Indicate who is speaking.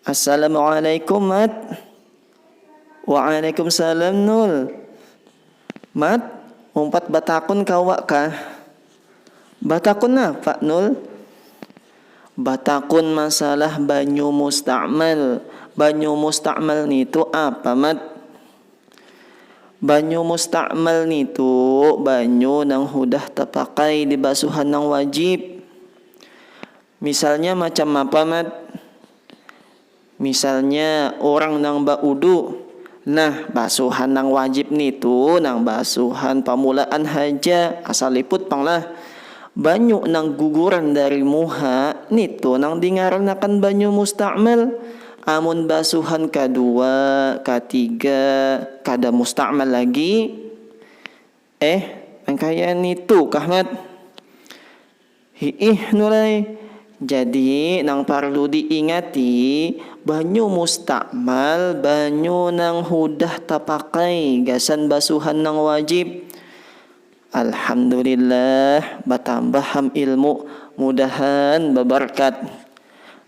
Speaker 1: Assalamualaikum Mat. Waalaikumsalam Nul. Mat, umpat batakun kawa kah? Batakun napa Nul? Batakun masalah banyu mustakmal. Banyu mustakmal nitu apa Mat? Banyu musta'mal nitu banyu nang hudah tapakai di basuhan nang wajib. Misalnya macam apa Mat? Misalnya urang nang ba'udu. Nah, basuhan nang wajib nitu nang basuhan pamulaan haja, asal liput pang lah. Banyu nang guguran dari muha nitu nang dingaranakan banyu musta'mal. Amun basuhan kadua, katiga kada musta'mal lagi, eh nang kaya nitu kah Mat? Hi'ih Nur ai, jadi nang parlu diingati banyu musta'mal banyu nang hudah tapakai gasan basuhan nang wajib. Alhamdulillah batambah ham ilmu, mudahan babarkat.